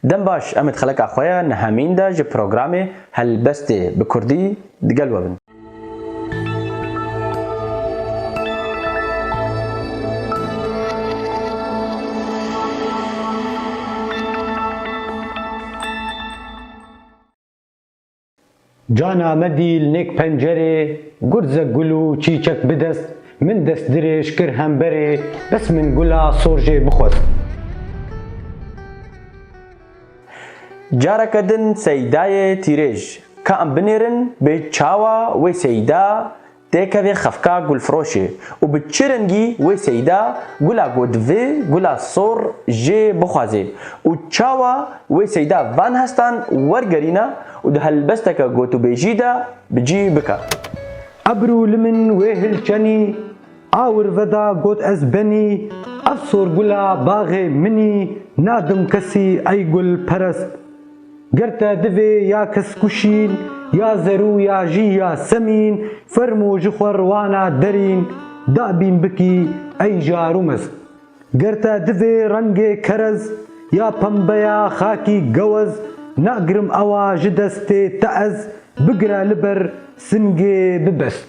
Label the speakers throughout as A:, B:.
A: Dem baş em ê di xeleka xwe ya nihemîn de ji programê Helbestê bi kurdî digel we bin.
B: Cana me dî li nêk pencerê, gurze gul û çîçek bi dest, min dest dirêj kir hemberê, bes min gula sor jê bixwest.
A: Careke din Seyîdayê tîrêj, ka em binêrin bê çawa wê Seyîda, Têkeve xefka gulfiroşê û bi çi rengî wê seyda gula ku divê gula sor jê bixwazê û çawa wê seyda van hestan wergerîna û di helbesteke gotûbêjî de bi cî bike. Ebru
B: li min wê hil çenî, awir veda got ez benî, ev sorgula baxê minî, nadim kesî ey gul perest. Girte divê ya kiskuşîn, ya zerû ya jî ya semîn, fermo ji xwe riwana derîn, da bîn bikî ey jarû mez. Girte divê rengê kerez, ya pembe ya xakî gewez, nagirim ewa ji destê te ez, bigire li ber singê bibest.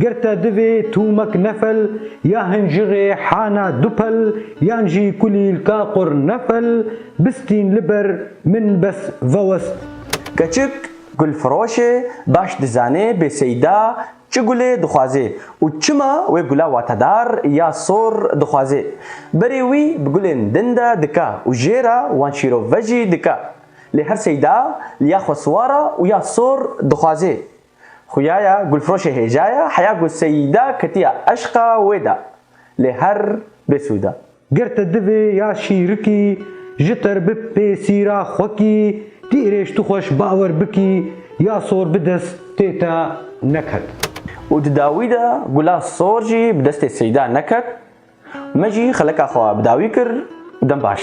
B: Girte divê tûmek nefel ya hinjirê hana dupel yan jî kulîlka qur nefel bistîn li ber min bes vewest. Keçik
A: gulfiroşê baş dizanê Bêseyda çi gulê dixwazê û çima wê gula watedar ya sor dixwazê. Berê wî bi gulên din de dika û jê re wan şîrove jî dika. Lê her seyda li ya xweswara û ya sor dixwazê Xuyaya gulfroşê hêjaya heya ku Seyîda ketiya eşqa wê de lê her bêsûd e. Ger te divê
B: ya şîrikî ji te re bi pêsîra xwekî tî irêj tu xweş bawer bikî ya sor bi dest tê te neket. Û di
A: dawî de gula sor jî bi destê Seyîda neket. Me jî xeleka xwe bi dawî kir û dem baş.